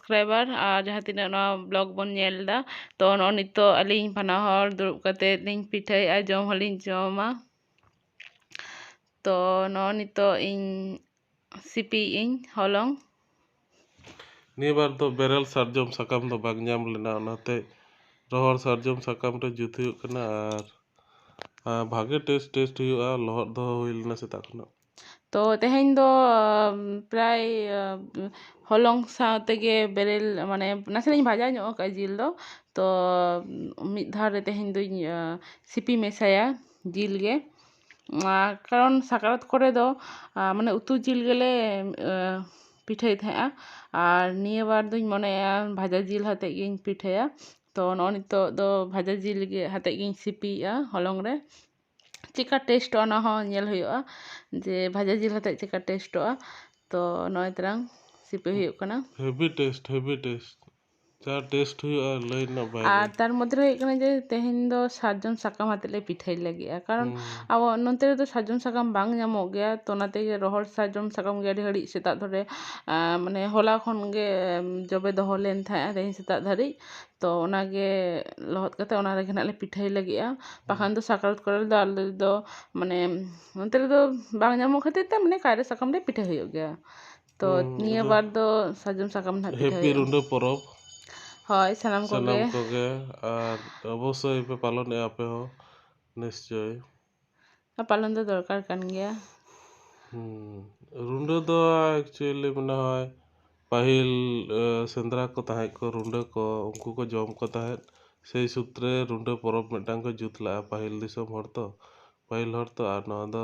subscriber ᱟᱨ ᱡᱟᱦᱟᱸ ᱛᱤᱱᱟᱹᱜ ᱱᱚᱣᱟ ᱵᱞᱚᱜᱽ ᱵᱚᱱ ᱧᱮᱞ ᱮᱫᱟ ᱛᱳ ᱱᱚᱜᱼᱚᱭ ᱱᱤᱛᱚᱜ ᱟᱹᱞᱤᱧ ᱵᱟᱱᱟ ᱦᱚᱲ ᱫᱩᱲᱩᱵ ᱠᱟᱛᱮᱫ ᱞᱤᱧ ᱯᱤᱴᱷᱟᱹᱭᱮᱫᱼᱟ ᱡᱚᱢ ᱦᱚᱸᱞᱤᱧ ᱡᱚᱢᱟ ᱛᱳ ᱱᱚᱜᱼᱚᱭ ᱱᱤᱛᱚᱜ ᱤᱧ ᱥᱤᱯᱤᱭᱮᱫ ᱟᱹᱧ ᱦᱚᱞᱚᱝ ᱱᱤᱭᱟᱹ ᱵᱟᱨ ᱫᱚ ᱵᱮᱨᱮᱞ ᱥᱟᱨᱡᱚᱢ ᱥᱟᱠᱟᱢ ᱫᱚ ᱵᱟᱝ ᱧᱟᱢ ᱞᱮᱱᱟ ᱚᱱᱟᱛᱮ ᱨᱚᱦᱚᱲ ᱥᱟᱨᱡᱚᱢ ᱥᱟᱠᱟᱢ ᱨᱮ ᱡᱩᱛ ᱦᱩᱭᱩᱜ ᱠᱟᱱᱟ ᱟᱨ ᱵᱷᱟᱜᱮ ᱴᱮᱥᱴ ᱴᱮᱥᱴ ᱦᱩᱭᱩᱜᱼᱟ ᱞᱚᱦᱚᱫ ᱫᱚᱦᱚ ᱦᱩᱭ ᱞᱮᱱᱟ ᱥᱮᱛᱟᱜ ᱠᱷᱚᱱᱟᱜ ᱛᱚ ᱛᱮᱦᱮᱧ ᱫᱚ ᱯᱨᱟᱭ ᱦᱚᱞᱚᱝ ᱥᱟᱶ ᱛᱮᱜᱮ ᱵᱮᱨᱮᱞ ᱢᱟᱱᱮ ᱱᱟᱥᱮᱱᱟᱜ ᱤᱧ ᱵᱷᱟᱡᱟ ᱧᱚᱜ ᱠᱟᱜᱼᱟ ᱡᱤᱞ ᱫᱚ ᱛᱚ ᱢᱤᱫ ᱫᱷᱟᱣ ᱨᱮ ᱛᱮᱦᱮᱧ ᱫᱚᱧ ᱥᱤᱯᱤ ᱢᱮᱥᱟᱭᱟ ᱡᱤᱞ ᱜᱮ ᱟᱨ ᱠᱟᱨᱚᱱ ᱥᱟᱠᱨᱟᱛ ᱠᱚᱨᱮ ᱫᱚ ᱢᱟᱱᱮ ᱩᱛᱩ ᱡᱤᱞ ᱜᱮᱞᱮ ᱯᱤᱴᱷᱟᱹᱭ ᱛᱟᱦᱮᱸᱜᱼᱟ ᱟᱨ ᱱᱤᱭᱟᱹ ᱵᱟᱨ ᱫᱚᱧ ᱢᱚᱱᱮᱭᱮᱜᱼᱟ ᱵᱷᱟᱡᱟ ᱡᱤᱞ ᱟᱛᱮᱫ ᱜᱤᱧ ᱯᱤᱴᱷᱟᱹᱭᱟ ᱛᱚ ᱱᱚᱜᱼᱚᱭ ᱱᱤᱛᱚᱜ ᱫᱚ ᱵᱷᱟᱡᱟ ᱡᱤᱞ ᱜᱮ ᱟᱛᱮᱫ ᱜᱤᱧ ᱥᱤᱯᱤᱭᱮᱜᱼᱟ ᱦᱚᱞᱚᱝ ᱨᱮ ᱪᱮᱫᱠᱟ ᱴᱮᱥᱴᱚᱜᱼᱟ ᱚᱱᱟ ᱦᱚᱸ ᱧᱮᱞ ᱦᱩᱭᱩᱜᱼᱟ ᱡᱮ ᱵᱷᱟᱡᱟ ᱡᱤᱞ ᱟᱛᱮᱫ ᱪᱮᱫᱠᱟ ᱴᱮᱥᱴᱚᱜᱼᱟ ᱛᱚ ᱱᱚᱜᱼᱚᱭ ᱛᱟᱨᱟᱝ ᱥᱤᱯᱤ ᱦᱩᱭᱩᱜ ᱠᱟᱱᱟ ᱦᱮᱵᱷᱤ ᱴᱮᱥᱴ ᱦᱮᱵᱷᱤ ᱴᱮᱥᱴ ᱡᱟ ᱴᱮᱥᱴ ᱦᱩᱭᱩᱜᱼᱟ ᱞᱟᱹᱭ ᱨᱮᱱᱟᱜ ᱵᱟᱭᱨᱮ ᱟᱨ ᱛᱟᱨ ᱢᱚᱫᱽᱫᱷᱮ ᱨᱮ ᱦᱩᱭᱩᱜ ᱠᱟᱱᱟ ᱡᱮ ᱛᱮᱦᱮᱧ ᱫᱚ ᱥᱟᱨᱡᱚᱢ ᱥᱟᱠᱟᱢ ᱟᱛᱮᱫ ᱞᱮ ᱯᱤᱴᱷᱟᱹᱭ ᱞᱟᱹᱜᱤᱫᱼᱟ ᱠᱟᱨᱚᱱ ᱟᱵᱚ ᱱᱚᱛᱮ ᱨᱮᱫᱚ ᱥᱟᱨᱡᱚᱢ ᱥᱟᱠᱟᱢ ᱵᱟᱝ ᱧᱟᱢᱚᱜ ᱜᱮᱭᱟ ᱛᱚ ᱚᱱᱟ ᱛᱮᱜᱮ ᱨᱚᱦᱚᱲ ᱥᱟᱨᱡᱚᱢ ᱥᱟᱠᱟᱢ ᱜᱮ ᱟᱹᱰᱤ ᱜᱷᱟᱹᱲᱤᱡ ᱥᱮᱛᱟᱜ ᱫᱷᱚᱨᱮ ᱢᱟᱱᱮ ᱦᱚᱞᱟ ᱠᱷᱚᱱ ᱜᱮ ᱡᱚᱵᱮ ᱫᱚᱦᱚ ᱞᱮᱱ ᱛᱟᱦᱮᱸᱫᱼᱟ ᱛᱮᱦᱮᱧ ᱥᱮᱛᱟᱜ ᱫᱷᱟᱹᱨᱤᱡ ᱛᱚ ᱚᱱᱟᱜᱮ ᱞᱚᱦᱚᱫ ᱠᱟᱛᱮᱫ ᱚᱱᱟ ᱨᱮᱜᱮ ᱦᱟᱸᱜ ᱞᱮ ᱯᱤᱴᱷᱟᱹᱭ ᱞᱟᱹᱜᱤᱫᱼᱟ ᱵᱟᱠᱷᱟᱱ ᱫᱚ ᱥᱟᱠᱨᱟᱛ ᱠᱚᱨᱮ ᱫᱚ ᱟᱞᱮ ᱫᱚ ᱢᱟᱱᱮ ᱚᱱᱛᱮ ᱨᱮᱫᱚ ᱵᱟᱝ ᱧᱟᱢᱚᱜ ᱠᱷᱟᱹᱛᱤᱨ ᱛᱮ ᱢᱟᱱᱮ ᱠᱟᱭᱨᱟ ᱥᱟᱠᱟᱢ ᱨᱮ ᱯᱤᱴᱷᱟᱹ ᱦᱩᱭᱩᱜ ᱜᱮᱭᱟ ᱛᱚ ᱱᱤᱭᱟᱹ ᱵᱟᱨ ᱫᱚ ᱥᱟᱨᱡᱚᱢ ᱥᱟᱠᱟᱢ ᱨᱮ ᱦᱟᱸᱜ ᱯᱤᱴᱷᱟᱹ ᱦᱮᱯᱤ ᱦᱩᱭᱩᱜᱼᱟ ᱨᱩᱰᱟᱹ ᱯᱚᱨᱚᱵᱽ ᱦᱳᱭ ᱥᱟᱱᱟᱢ ᱠᱚᱜᱮ ᱥᱟᱱᱟᱢ ᱠᱚᱜᱮ ᱟᱨ ᱚᱵᱚᱥᱥᱳᱭ ᱯᱮ ᱯᱟᱞᱚᱱᱮᱜᱼᱟ ᱟᱯᱮ ᱦᱚᱸ ᱱᱤᱥᱪᱳᱭ ᱯᱟᱞᱚᱱ ᱫᱚ ᱫᱚᱨᱠᱟᱨ ᱠᱟᱱ ᱜᱮᱭᱟ ᱨᱩᱸᱰᱟᱹ ᱫᱚ ᱮᱠᱪᱩᱭᱮᱞᱤ ᱢᱚᱱᱮ ᱦᱚᱭ ᱯᱟᱹᱦᱤᱞ ᱥᱮᱸᱫᱽᱨᱟ ᱠᱚ ᱛᱟᱦᱮᱸ ᱠᱚ ᱨᱩᱸᱰᱟᱹ ᱠᱚ ᱩᱱᱠᱩ ᱠᱚ ᱡᱚᱢ ᱠᱚ ᱛᱟᱦᱮᱸᱫ ᱥᱮᱭ ᱥᱩᱛᱨᱮ ᱨᱩᱸᱰᱟᱹ ᱯᱚᱨᱚᱵᱽ ᱢᱤᱫᱴᱟᱝ ᱠᱚ ᱡᱩᱛ ᱞᱟᱜᱼᱟ ᱯᱟᱹᱦᱤᱞ ᱫᱤᱥᱚᱢ ᱦᱚᱲ ᱛᱚ ᱯᱟᱹᱦᱤᱞ ᱦᱚᱲ ᱛᱚ ᱟᱨ ᱱᱚᱣᱟ ᱫᱚ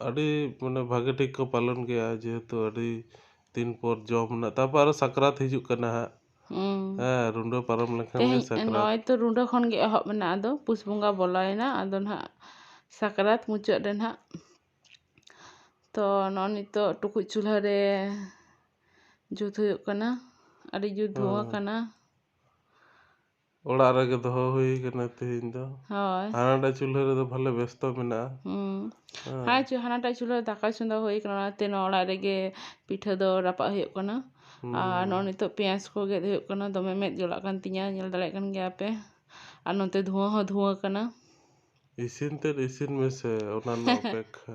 ᱟᱹᱰᱤ ᱢᱟᱱᱮ ᱵᱷᱟᱹᱜᱤ ᱴᱷᱤᱠ ᱠᱚ ᱯᱟᱞᱚᱱ ᱜᱮᱭᱟ ᱡᱮᱦᱮᱛᱩ ᱟᱹᱰᱤ ᱫᱤᱱ ᱯᱚᱨ ᱡᱚᱢ ᱨᱮᱱᱟᱜ ᱛᱟᱨᱯᱚᱨ ᱟᱨᱚ ᱥᱟᱠᱨᱟᱛ ᱦᱤᱡᱩᱜ ᱠᱟᱱᱟ ᱦᱟᱸᱜ ᱦᱮᱸ ᱨᱩᱸᱰᱟᱹ ᱯᱟᱨᱚᱢ ᱞᱮᱱᱠᱷᱟᱱ ᱜᱮ ᱛᱮᱦᱮᱧ ᱥᱟᱠᱨᱟᱛ ᱱᱚᱜᱼᱚᱭ ᱛᱚ ᱨᱩᱸᱰᱟᱹ ᱠᱷᱚᱱ ᱜᱮ ᱮᱦᱚᱵ ᱮᱱᱟ ᱟᱫᱚ ᱯᱩᱥ ᱵᱚᱸᱜᱟ ᱵᱚᱞᱚᱭᱮᱱᱟ ᱟᱫᱚ ᱱᱟᱦᱟᱜ ᱥᱟᱠᱨᱟᱛ ᱢᱩᱪᱟᱹᱫ ᱨᱮ ᱱᱟᱦᱟᱜ ᱛᱚ ᱱᱚᱜᱼᱚᱭ ᱱᱤᱛᱚᱜ ᱴᱩᱠᱩᱡ ᱪᱩᱞᱦᱟᱹ ᱨᱮ ᱡᱩᱛ ᱦᱩᱭᱩᱜ ᱠᱟᱱᱟ ᱟᱹᱰᱤ ᱡᱩᱛ ᱫᱷᱩᱣᱟᱹ ᱠᱟᱱᱟ ᱚᱲᱟᱜ ᱨᱮᱜᱮ ᱫᱚᱦᱚ ᱦᱩᱭ ᱠᱟᱱᱟ ᱛᱮᱦᱮᱧ ᱫᱚ ᱦᱳᱭ ᱦᱟᱱᱟᱴᱟᱜ ᱪᱩᱞᱦᱟᱹ ᱨᱮᱫᱚ ᱵᱷᱟᱞᱮ ᱵᱮᱥᱛᱚ ᱢᱮᱱᱟᱜᱼᱟ ᱦᱩᱸ ᱟᱨ ᱪᱮᱫ ᱦᱟᱱᱟᱴᱟᱜ ᱪᱩᱞᱦᱟᱹ ᱨᱮ ᱫᱟᱠᱟ ᱪᱚᱸᱫᱟ ᱦᱩᱭ ᱠᱟᱱᱟ ᱚᱱᱟᱛᱮ ᱱᱚᱣᱟ ᱚᱲᱟᱜ ᱨᱮᱜᱮ ᱯᱤᱴᱷᱟᱹ ᱫᱚ ᱨᱟᱯᱟᱜ ᱦᱩᱭᱩᱜ ᱠᱟᱱᱟ ᱟᱨ ᱱᱚᱜᱼᱚᱭ ᱱᱤᱛᱚᱜ ᱯᱮᱸᱭᱟᱡᱽ ᱠᱚ ᱜᱮᱫ ᱦᱩᱭᱩᱜ ᱠᱟᱱᱟ ᱫᱚᱢᱮ ᱢᱮᱫ ᱡᱟᱞᱟᱜ ᱠᱟᱱ ᱛᱤᱧᱟᱹ ᱧᱮᱞ ᱫᱟᱲᱮᱭᱟᱜ ᱠᱟᱱ ᱜᱮᱭᱟ ᱯᱮ ᱟᱨ ᱱᱚᱛᱮ ᱫᱷᱩᱶᱟᱹ ᱦᱚᱸ ᱫᱷᱩᱶᱟᱹ ᱠᱟᱱᱟ ᱤᱥᱤᱱ ᱛᱮᱫ ᱤᱥᱤᱱ ᱢᱮᱥᱮ ᱚᱱᱟ ᱨᱮᱱᱟᱜ ᱚᱯᱮᱠᱠᱷᱟ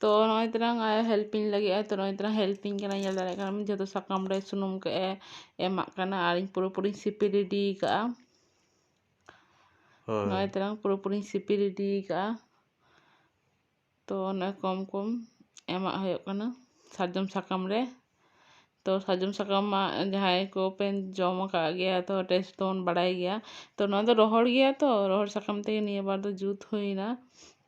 ᱛᱚ ᱱᱚᱜᱼᱚᱭ ᱛᱟᱞᱟᱝ ᱦᱮᱞᱯᱤᱧ ᱞᱟᱹᱜᱤᱫ ᱟᱭ ᱛᱚ ᱱᱚᱜᱼᱚᱭ ᱛᱟᱞᱟᱝ ᱦᱮᱞᱯᱤᱧ ᱠᱟᱱᱟᱭ ᱧᱮᱞ ᱫᱟᱲᱮᱭᱟᱜ ᱠᱟᱱᱟᱢ ᱡᱚᱛᱚ ᱥᱟᱠᱟᱢ ᱨᱮ ᱥᱩᱱᱩᱢ ᱠᱚᱭ ᱮᱢᱟᱜ ᱠᱟᱱᱟ ᱟᱨ ᱤᱧ ᱯᱩᱨᱟᱹ ᱯᱩᱨᱤᱧ ᱥᱤᱯᱤ ᱨᱮᱰᱤ ᱠᱟᱜᱼᱟ ᱦᱳᱭ ᱱᱚᱜᱼᱚᱭ ᱛᱟᱞᱟᱝ ᱯᱩᱨᱟᱹ ᱯᱩᱨᱤᱧ ᱥᱤᱯᱤ ᱨᱮᱰᱤ ᱠᱟᱜᱼᱟ ᱛᱚ ᱚᱱᱟ ᱠᱚᱢ ᱠᱚᱢ ᱮᱢᱟᱜ ᱦᱩᱭᱩᱜ ᱠᱟᱱᱟ ᱥᱟᱨᱡᱚᱢ ᱥᱟᱠᱟᱢ ᱨᱮ ᱛᱚ ᱥᱟᱨᱡᱚᱢ ᱥᱟᱠᱟᱢ ᱢᱟ ᱡᱟᱦᱟᱸᱭ ᱠᱚᱯᱮ ᱡᱚᱢ ᱟᱠᱟᱫ ᱜᱮᱭᱟ ᱛᱚ ᱴᱮᱥᱴ ᱫᱚᱵᱚᱱ ᱵᱟᱲᱟᱭ ᱜᱮᱭᱟ ᱛᱚ ᱱᱚᱣᱟ ᱫᱚ ᱨᱚᱦᱚᱲ ᱜᱮᱭᱟ ᱛᱚ ᱨᱚᱦᱚᱲ ᱥᱟᱠᱟᱢ ᱛᱮᱜᱮ ᱱᱤᱭᱟᱹ ᱵᱟᱨ ᱫᱚ ᱡᱩᱛ ᱦᱩᱭᱱᱟ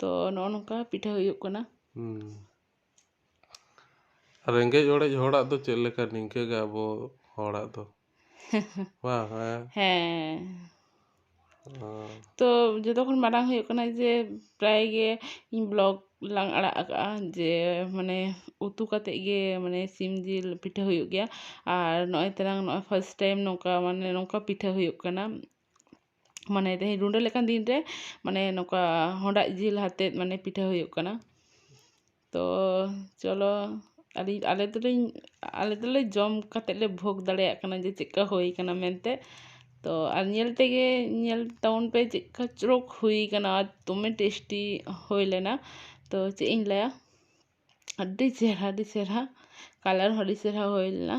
ᱛᱚ ᱱᱚᱜᱼᱚ ᱱᱚᱝᱠᱟ ᱯᱤᱴᱷᱟᱹ ᱦᱩᱭᱩᱜ ᱠᱟᱱᱟ ᱨᱮᱸᱜᱮᱡ ᱚᱲᱮᱡ ᱦᱚᱲᱟᱜ ᱫᱚ ᱪᱮᱫ ᱞᱮᱠᱟ ᱱᱤᱝᱠᱟᱹ ᱜᱮ ᱟᱵᱚ ᱦᱚᱲᱟᱜ ᱫᱚ ᱵᱟᱝ ᱦᱮᱸ ᱛᱚ ᱡᱚᱛᱚ ᱠᱷᱚᱱ ᱢᱟᱨᱟᱝ ᱦᱩᱭᱩᱜ ᱠᱟᱱᱟ ᱡᱮ ᱯᱨᱟᱭ ᱜᱮ ᱤᱧ ᱵᱞᱚᱜᱽ ᱞᱟᱝ ᱟᱲᱟᱜ ᱟᱠᱟᱜᱼᱟ ᱡᱮ ᱢᱟᱱᱮ ᱩᱛᱩ ᱠᱟᱛᱮᱫ ᱜᱮ ᱢᱟᱱᱮ ᱥᱤᱢ ᱡᱤᱞ ᱯᱤᱴᱷᱟᱹ ᱦᱩᱭᱩᱜ ᱜᱮᱭᱟ ᱟᱨ ᱱᱚᱜᱼᱚᱭ ᱛᱚᱨᱟᱝ ᱱᱚᱜᱼᱚᱭ ᱯᱷᱟᱥᱴ ᱴᱟᱭᱤᱢ ᱱᱚᱝᱠᱟ ᱢᱟᱱᱮ ᱱᱚᱝᱠᱟ ᱯᱤᱴᱷᱟᱹ ᱦᱩᱭᱩᱜ ᱠᱟᱱᱟ ᱢᱟᱱᱮ ᱛᱮᱦᱮᱧ ᱨᱩᱸᱰᱟᱹ ᱞᱮᱠᱟᱱ ᱫᱤᱱ ᱨᱮ ᱢᱟᱱᱮ ᱱᱚᱝᱠᱟ ᱦᱚᱰᱟᱜ ᱡᱤᱞ ᱟᱛᱮᱫ ᱢᱟᱱᱮ ᱯᱤᱴᱷᱟᱹ ᱦᱩᱭᱩᱜ ᱠᱟᱱᱟ ᱛᱚ ᱪᱚᱞᱚ ᱟᱹᱞᱤᱧ ᱟᱞᱮ ᱫᱚᱞᱤᱧ ᱟᱞᱮ ᱫᱚᱞᱮ ᱡᱚᱢ ᱠᱟᱛᱮᱫ ᱞᱮ ᱵᱷᱳᱜᱽ ᱫᱟᱲᱮᱭᱟᱜ ᱠᱟᱱᱟ ᱡᱮ ᱪᱮᱫᱠᱟ ᱦᱩᱭ ᱠᱟᱱᱟ ᱢᱮᱱᱛᱮ ᱛᱚ ᱟᱨ ᱧᱮᱞ ᱛᱮᱜᱮ ᱧᱮᱞ ᱛᱟᱵᱚᱱ ᱯᱮ ᱪᱮᱫᱠᱟ ᱪᱚᱨᱚᱠ ᱦᱩᱭ ᱠᱟᱱᱟ ᱟᱨ ᱫᱚᱢᱮ ᱴᱮᱥᱴᱤ ᱦᱩᱭ ᱞᱮᱱᱟ ᱛᱚ ᱪᱮᱫ ᱤᱧ ᱞᱟᱹᱭᱟ ᱟᱹᱰᱤ ᱪᱮᱦᱨᱟ ᱟᱹᱰᱤ ᱪᱮᱦᱨᱟ ᱠᱟᱞᱟᱨ ᱦᱚᱸ ᱟᱹᱰᱤ ᱪᱮᱦᱨᱟ ᱦᱩᱭ ᱞᱮᱱᱟ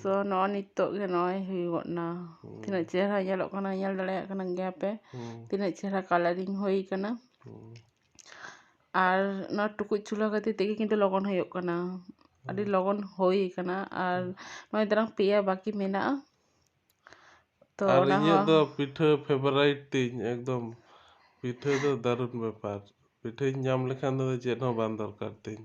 ᱛᱚ ᱱᱚᱜᱼᱚ ᱱᱤᱛᱳᱜ ᱜᱮ ᱱᱚᱜᱼᱚᱭ ᱦᱩᱭᱩᱜᱚᱜ ᱱᱟ ᱛᱤᱱᱟᱹᱜ ᱪᱮᱦᱨᱟ ᱧᱮᱞᱚᱜ ᱠᱟᱱᱟ ᱧᱮᱞ ᱫᱟᱲᱮᱭᱟᱜ ᱠᱟᱱ ᱜᱮᱭᱟ ᱯᱮ ᱛᱤᱱᱟᱹᱜ ᱪᱮᱦᱨᱟ ᱠᱟᱞᱟᱨᱤᱝ ᱦᱩᱭ ᱠᱟᱱᱟ ᱟᱨ ᱱᱚᱣᱟ ᱴᱩᱠᱩᱡ ᱪᱩᱞᱦᱟᱹ ᱠᱷᱟᱹᱛᱤᱨ ᱛᱮᱜᱮ ᱠᱤᱱᱛᱩ ᱞᱚᱜᱚᱱ ᱦᱩᱭᱩᱜ ᱠᱟᱱᱟ ᱟᱹᱰᱤ ᱞᱚᱜᱚᱱ ᱦᱩᱭ ᱠᱟᱱᱟ ᱟᱨ ᱱᱚᱜᱼᱚᱭ ᱛᱟᱨᱟᱝ ᱯᱮᱭᱟ ᱵᱟᱠᱤ ᱢᱮᱱᱟᱜᱼᱟ ᱛᱚ ᱟᱨ ᱚᱱᱟ ᱤᱧᱟᱹᱜ ᱦᱚᱸ ᱫᱚ ᱯᱤᱴᱷᱟᱹ ᱯᱷᱮᱵᱟᱨᱟᱭᱤᱴ ᱛᱤᱧ ᱮᱠᱫᱚᱢ ᱯᱤᱴᱷᱟᱹ ᱫᱚ ᱫᱟᱨᱩᱱ ᱵᱮᱯᱟᱨ ᱯᱤᱴᱷᱟᱹᱧ ᱧᱟᱢ ᱞᱮᱠᱷᱟᱱ ᱫᱚ ᱪᱮᱫ ᱦᱚᱸ ᱵᱟᱝ ᱫᱚᱨᱠᱟᱨ ᱛᱤᱧ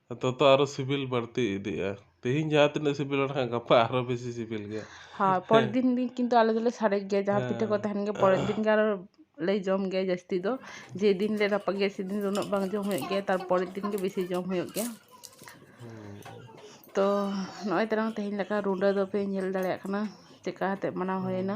ᱛᱚᱛᱚ ᱟᱨᱚ ᱥᱤᱵᱤᱞ ᱵᱟᱹᱲᱛᱤ ᱤᱫᱤᱜᱼᱟ ᱛᱮᱦᱤᱧ ᱡᱟᱦᱟᱸ ᱛᱤᱱᱟᱹᱜ ᱥᱤᱵᱤᱞᱟ ᱢᱮᱱᱠᱷᱟᱱ ᱜᱟᱯᱟ ᱟᱨᱚ ᱵᱮᱥᱤ ᱥᱤᱵᱤᱞ ᱜᱮᱭᱟ ᱦᱳᱭ ᱯᱚᱨᱮᱨ ᱫᱤᱱ ᱫᱤᱱ ᱠᱤᱱᱛᱩ ᱟᱞᱮ ᱫᱚᱞᱮ ᱥᱟᱨᱮᱡ ᱜᱮᱭᱟ ᱡᱟᱦᱟᱸ ᱯᱤᱴᱷᱟᱹ ᱠᱚ ᱛᱟᱦᱮᱱ ᱜᱮᱭᱟ ᱯᱚᱨᱮᱨ ᱫᱤᱱ ᱜᱮ ᱟᱨᱚ ᱞᱮ ᱡᱚᱢ ᱜᱮᱭᱟ ᱡᱟᱹᱥᱛᱤ ᱫᱚ ᱡᱮᱫᱤᱱ ᱞᱮ ᱨᱟᱯᱟᱜ ᱜᱮᱭᱟ ᱥᱮᱫᱤᱱ ᱫᱚ ᱩᱱᱟᱹᱜ ᱵᱟᱝ ᱡᱚᱢ ᱦᱩᱭᱩᱜ ᱜᱮᱭᱟ ᱛᱟᱨᱯᱚᱨᱮᱨ ᱫᱤᱱ ᱜᱮ ᱵᱮᱥᱤ ᱡᱚᱢ ᱦᱩᱭᱩᱜ ᱜᱮᱭᱟ ᱛᱚ ᱱᱚᱜᱼᱚᱭ ᱛᱟᱞᱟᱝ ᱛᱮᱦᱮᱧ ᱞᱮᱠᱟ ᱨᱩᱰᱟᱹ ᱫᱚᱯᱮ ᱧᱮᱞ ᱫᱟᱲᱮᱭᱟᱜ ᱠᱟᱱᱟ ᱪᱮᱫᱠᱟ ᱠᱟᱛᱮᱫ ᱢᱟᱱᱟᱣ ᱦᱩᱭᱱᱟ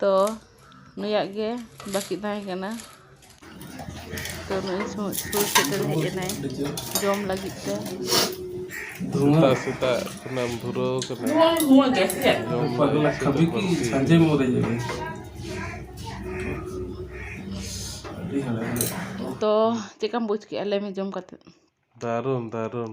ᱛᱚ ᱱᱩᱭᱟᱜ ᱜᱮ ᱵᱟᱹᱠᱤ ᱛᱟᱦᱮᱸ ᱠᱟᱱᱟ ᱛᱚ ᱱᱩᱭ ᱥᱩᱨ ᱥᱮᱴᱮᱨ ᱦᱮᱡ ᱮᱱᱟᱭ ᱡᱚᱢ ᱞᱟᱹᱜᱤᱫ ᱛᱮ ᱥᱮᱛᱟᱜ ᱥᱮᱛᱟᱜ ᱠᱷᱚᱱᱟᱢ ᱫᱷᱩᱨᱟᱹᱣ ᱠᱟᱱᱟ ᱛᱚ ᱪᱮᱫᱠᱟᱢ ᱵᱩᱡᱽ ᱠᱮᱜᱼᱟ ᱞᱟᱹᱭ ᱢᱮ ᱡᱚᱢ ᱠᱟᱛᱮ ᱫᱟᱨᱩᱱ ᱫᱟᱨᱩᱱ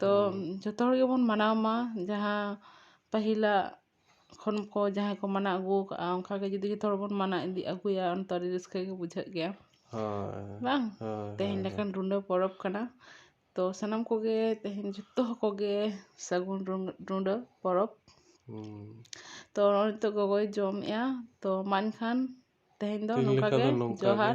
ᱛᱚ ᱡᱚᱛᱚ ᱦᱚᱲ ᱜᱮᱵᱚᱱ ᱢᱟᱱᱟᱣ ᱢᱟ ᱡᱟᱦᱟᱸ ᱯᱟᱹᱦᱤᱞᱟᱜ ᱠᱷᱚᱱ ᱠᱚ ᱡᱟᱦᱟᱸᱭ ᱠᱚ ᱢᱟᱱᱟᱣ ᱟᱹᱜᱩ ᱟᱠᱟᱫᱼᱟ ᱚᱱᱠᱟ ᱜᱮ ᱡᱩᱫᱤ ᱡᱚᱛᱚ ᱦᱚᱲ ᱵᱚᱱ ᱢᱟᱱᱟᱣ ᱤᱫᱤ ᱟᱹᱜᱩᱭᱟ ᱩᱱ ᱫᱚ ᱟᱹᱰᱤ ᱨᱟᱹᱥᱠᱟᱹ ᱜᱮ ᱵᱩᱡᱷᱟᱹᱜ ᱜᱮᱭᱟ ᱵᱟᱝ ᱛᱮᱦᱮᱧ ᱞᱮᱠᱟᱱ ᱨᱩᱸᱰᱟᱹ ᱯᱚᱨᱚᱵᱽ ᱠᱟᱱᱟ ᱛᱚ ᱥᱟᱱᱟᱢ ᱠᱚᱜᱮ ᱛᱮᱦᱮᱧ ᱡᱚᱛᱚ ᱠᱚᱜᱮ ᱥᱟᱹᱜᱩᱱ ᱨᱩᱸᱰᱟᱹ ᱯᱚᱨᱚᱵᱽ ᱛᱚ ᱱᱤᱛᱚᱜ ᱜᱚᱜᱚᱭ ᱡᱚᱢᱮᱫᱼᱟ ᱛᱚ ᱢᱟ ᱮᱱᱠᱷᱟᱱ ᱛᱮᱦᱮᱧ ᱫᱚ ᱱᱚᱝᱠᱟ ᱜᱮ ᱡᱚᱦᱟᱨ